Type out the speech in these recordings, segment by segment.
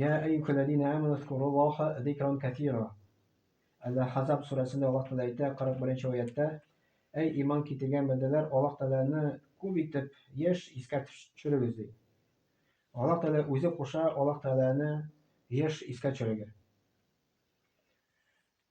Йә әйюһә ләзинә әмәну зкуруллаһа зикран кәсира. Әл-Әхзаб сүрәсендә Аллаһ Тәгалә әйтә, 41 нче аятьтә, Әй иман китергән бәндәләр, Аллаһ Тәгаләне күп итеп еш искә төшерегез, ди. Аллаһ Тәгалә үзе куша Аллаһ Тәгаләне еш искә төшерергә.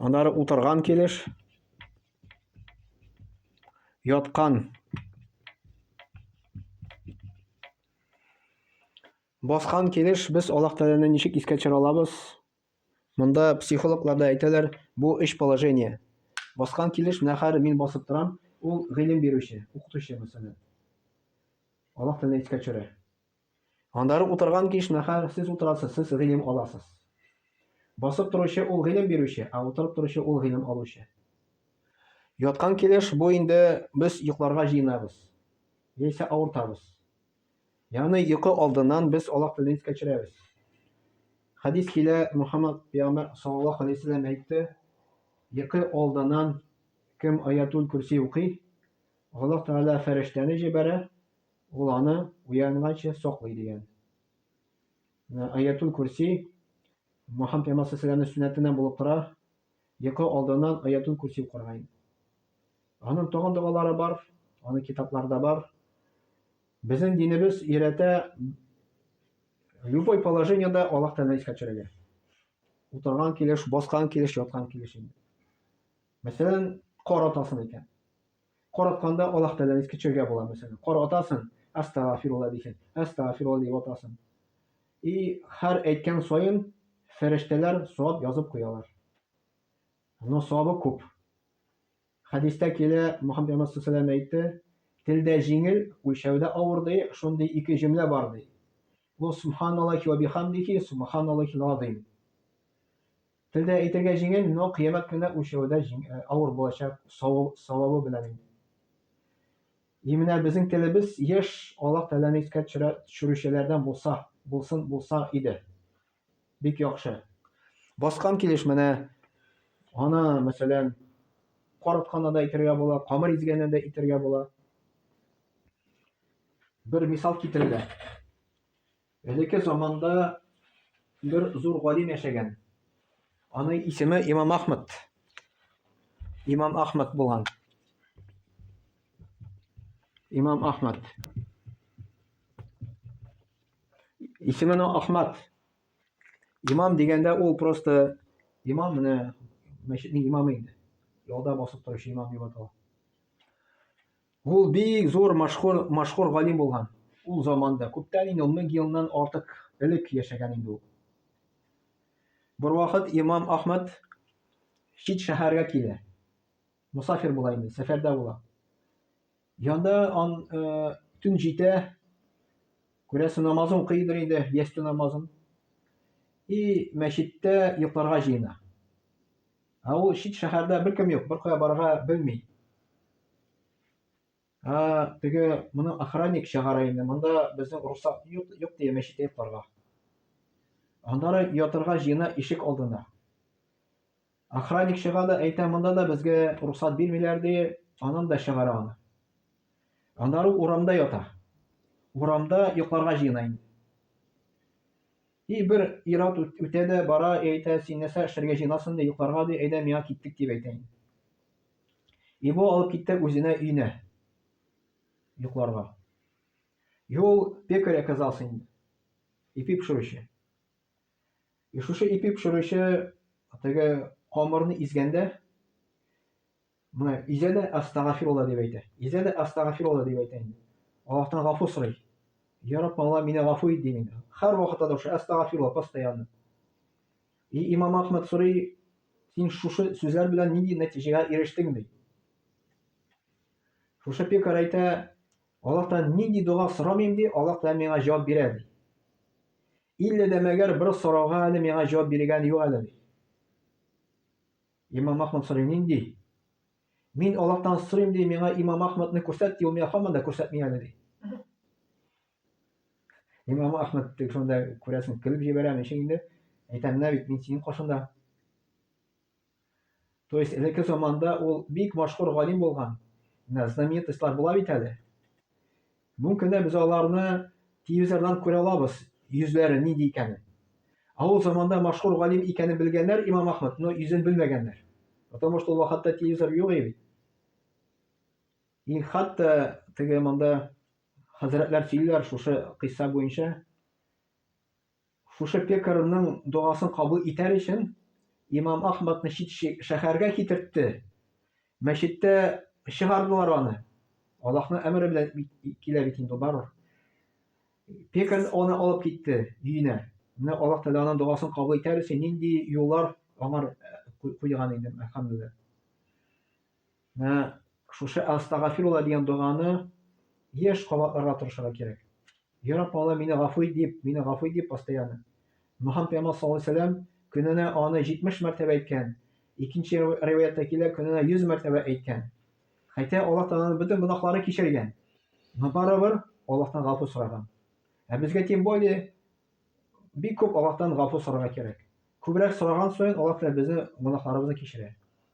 Аннары утырган килеш, яткан баскан килеш без Аллаһ Тәгаләне ничек искә төшерә алабыз? Монда психологлар да әйтәләр, бу өч положение. Баскан килеш, менә хәзер мин басып торам, ул гыйлем бирүче, укытучы мәсәлән. Аллаһ Тәгалә искә төшерә. Аннары утырган киш мәхәл сез утырасыз, сез гыйлем аласыз. Басып торучы ул гыйлем бирүче, ә утырып торучы ул гыйлем алучы. Яткан килеш бу инде без йокларга җыенабыз. Яисә авыртабыз. Ягъни йокы алдыннан без Аллаһ телен искә төшерәбез. Хәдис килә, Мөхәммәд пәйгамбәр саллаллаһу алейһи вәсәлләм әйтте, йокы алдыннан кем аятул курси укый, Аллаһ Тәгалә фәрештәне җибәрә, Ул аны уянганчы саклый, дигән. Менә Аятул Курси Мөхәммәд пәйгамбәр саллаллаһу сөннәтеннән булып тора. Йокы алдыннан Аятул Курси укырга инде. Аның тагын догалары бар, аны китапларда бар. Безнең динебез өйрәтә любой положениедә Аллаһ Тәгалә искә төшерергә. Утырган килеш, баскан килеш, яткан килеш инде. Мәсәлән, кар атасың икән. Каратканда Аллаһ Тәгаләне искә төшерергә була, мәсәлән. Каратасың, Әстәгъфирулла дисең, Әстәгъфирулла дип атасың. И һәр әйткән саен фәрештәләр савап язып куялар. Но савабы күп. Хәдистә килә, Мөхәммәд Пәйгамбәр саллаллаху әйтте, телдә җиңел, үлчәүдә авыр ди, шундый ике җөмлә бар ди. Бу субханаллахи ва бихамдихи, субханаллахил азим. Телдә әйтергә җиңел, но кыямәт көнендә үлчәүдә авыр булачак савабы белән инде. И менә безнең телебез еш Аллаһ Тәгаләне искә төшерүчеләрдән булса, булсын, булса иде. Бик яхшы. Баскан килеш менә аны, мәсәлән, кар атканда да әйтергә була, камыр изгәндә дә әйтергә була. Бер мисал китерелә. Элекке заманда бер зур галим яшәгән. Аның исеме Имам Ахмад. Имам Ахмад булган. Имам Ахмад. Исеме Ахмад. Имам дигәндә ул просто имам менә мәчетнең имамы инде. Ялда басып торучы имам дип атала. Ул бик зур машхур, машхур галим булган. Ул заманда, күптән инде, ун мең елдан артык элек яшәгән инде ул. Бер вакыт имам Ахмад чит шәһәргә килә. Мусафир була инде, сәфәрдә була. Янда ан э, төн җитә, күрәсе намазын укыйдыр инде, ястү намазын. И мәчеттә йокларга җыена. Ә ул чит шәһәрдә беркем юк, беркая барырга белми. Ә теге моны охранник чыгара инде, монда безнең русак юк, юк дия мәчеткә йокларга. Аннары ятырга җыена ишек алдына. Охранник чыга да әйтә, монда да безгә русат бирмиләр ди, анын да чыгара аны. Аннары урамда ята. Урамда йокларга җыена инде. И бер ир-ат үтә дә бара, и әйтә, Син нәрсә эшләргә җыенасың, ди, йокларга, ди, әйдә, миңа киттек, дип әйтә инде. И бу алып китте үзенә өенә йокларга. И ул пекарь оказался инде, ипи пешерүче. И шушы ипи пешерүче теге камырны изгәндә, Менә Изәлә әстәгафирулла дип әйтә. Изәлә әстәгафирулла дип әйтә инде. Аллаһтан гафу сорый. Я Рабб, Алла, мине гафу ит дим инде. Һәрвакытта да шушы әстәгафирулла постоянно. И имам Ахмад сорый, син шушы сүзләр белән нинди нәтиҗәгә ирештең ди? Шушы пекар әйтә, Аллаһтан нинди дога сорамыйм ди, Аллаһ та миңа җавап бирә ди. Илле дә мәгәр бер сорауга әле миңа җавап биргән юк әле ди. Имам Ахмад сорый, Нинди? Мин Аллаһтан сорыйм, ди, миңа Имам Ахмадны күрсәт, ди, ул миңа һаман да күрсәтми әле, ди. Имам Ахмад шунда күрәсең, көлеп җибәрә, ничек инде? Әйтәм, менә бит мин синең кашында. То есть, элекке заманда ул бик машһур галим булган. Менә знаменитослар була бит әле. Мүмкин дә без аларны телевизордан күрә алабыз, йөзләре нинди икәнен. Ә ул заманда машһур галим икәнен белгәннәр Имам Ахмад, но йөзен белмәгәннәр. Потому что ул вакытта телевизор юк иде. И хатта теге монда хәзрәтләр сөйлиләр шушы кыйсса буенча. Шушы пекаренең догасын кабул итәр өчен имам Ахмадны чит шәһәргә китертте. Мәчеттә чыгардылар аны. Аллаһның әмере белән килә бит инде барыр. Пекарь аны алып китте өенә. Менә Аллаһ Тәгалә аның догасын кабул итәр өчен нинди юллар аңар куйган инде, әлхәмдүлилләһ. Менә шушы Әстәгафирулла дигән доганы еш кабатларга тырышырга кирәк. Я Рабб, Аллаһ, мине гафу ит дип, мине гафу ит дип постоянно. Мөхәммәд пәйгамбәр саллаллаһу алейһи вәсәлләм көненә аны 70 мәртәбә әйткән. Икенче риваятта килә, көненә 100 мәртәбә әйткән. Хәтта Аллаһ Тәгаләнең бөтен гөнаһлары кичергән. Но барыбер Аллаһтан гафу сораган. Ә безгә тем более бик күп Аллаһтан гафу сорарга кирәк. Күбрәк сораган саен Аллаһ Тәгалә безнең гөнаһларыбызны кичерә.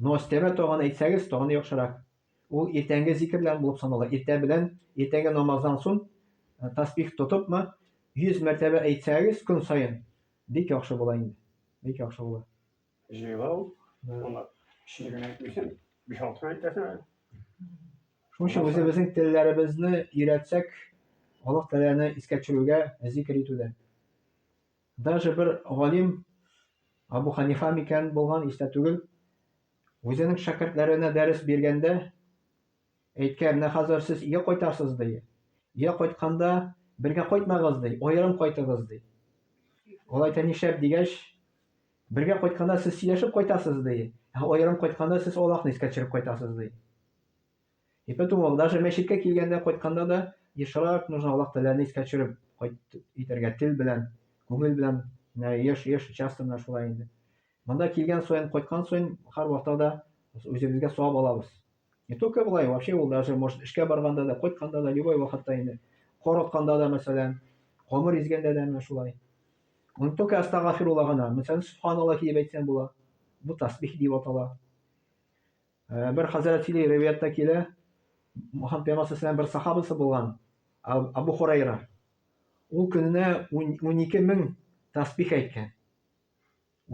Но өстәмә тагын әйтсәгез, тагын яхшырак. Ул иртәнге зикер белән булып санала. Иртә белән, иртәнге намаздан сон тәсбих тотыпмы, 100 мәртәбә әйтсәгез көн саен, бик яхшы була инде. Бик яхшы була. Җыйлау, аны кечкенә генә әйтмисең, 5-6 генә әйтәсең әле. Шуның өчен үзебезнең телләребезне өйрәтсәк, Аллаһ Тәгаләне искә төшерүгә, зикер итүдә. Даже бер галим, Абу Ханифа микән булган, истә түгел, үзенең шәкертләренә дәрес биргәндә әйткән, менә хәзер сез өйгә кайтасыз, ди. Өйгә кайтканда бергә кайтмагыз, ди, аерым кайтыгыз, ди. Ул әйтә, нишләп дигәч, бергә кайтканда сез сөйләшеп кайтасыз, ди, ә аерым кайтканда сез Аллаһны искә төшереп кайтасыз, ди. И потому даже мәчеткә килгәндә, кайтканда да ешрак нужно Аллаһ Тәгаләне искә төшереп кайт итәргә, тел белән, күңел белән, менә еш, еш, часто менә шулай инде. Монда килгән саен, кайткан саен һәрвакытта да үзебезгә савап алабыз. Не только былай, вообще ул даже может эшкә барганда да, кайтканда да, любой вакытта инде. Кар атканда да, мәсәлән, камыр изгәндә дә менә шулай. Аны только астагафирулла гына. Мәсәлән, субханаллахи дип әйтсәң була. Бу тасбих дип атала. Э, бер хәзрәт сөйли ривәяттә килә мөхәммәд пәйгамбәр бер сахабасы булган абу хурайра ул көненә ун ике мең тәсбих әйткән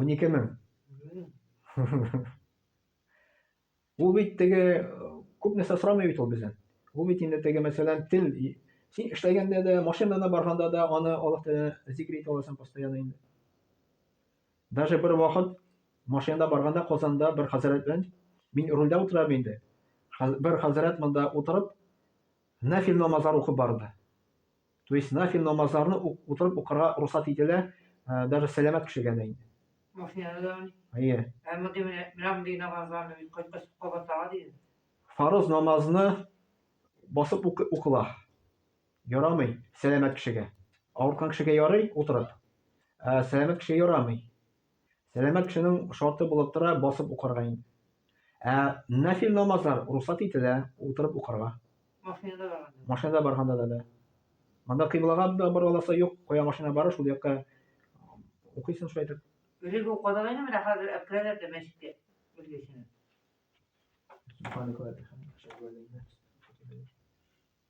ун ике мең ул бит теге күп нәрсә сорамый бит ул бездән ул бит инде теге мәсәлән тел син эшләгәндә дә машинада барганда да аны аллаһ тәгалә зикер итә аласың постоянно инде Даже бер вакыт машинада барганда Казанда бер хәзрәт белән мин рульдә утырам инде. Бер хәзрәт монда утырып нафил намазлар укып барды. То есть нафил намазларны утырып укырга русат ителә, э, даже сәламәт кешегә дә инде. Машинада да. Әйе. Ә мондый менә мондый намазларны мин кайткач кабатларга диде. Фарыз намазны басып укыла. Ярамый сәламәт кешегә. Авырткан кешегә ярый утырып. Ә сәламәт кешегә ярамый. Сәламәт кешенең шарты булып тора басып укырга инде. Ә нафил намазлар русат ителә утырып укырга. Машинада барганда. Машинада барганда да да. Монда кыйблага да бара аласы юк, кая машина бара, шул якка укыйсың шулай итеп. Элек укыдык инде, менә хәзер алып керәләр дә мәчеткә. Үзгәчә. Субханәкәллә, бихамдик, әшһәдү ан ла иляха илля әнтә, әстәгъфирука ва әтүбу иләйк.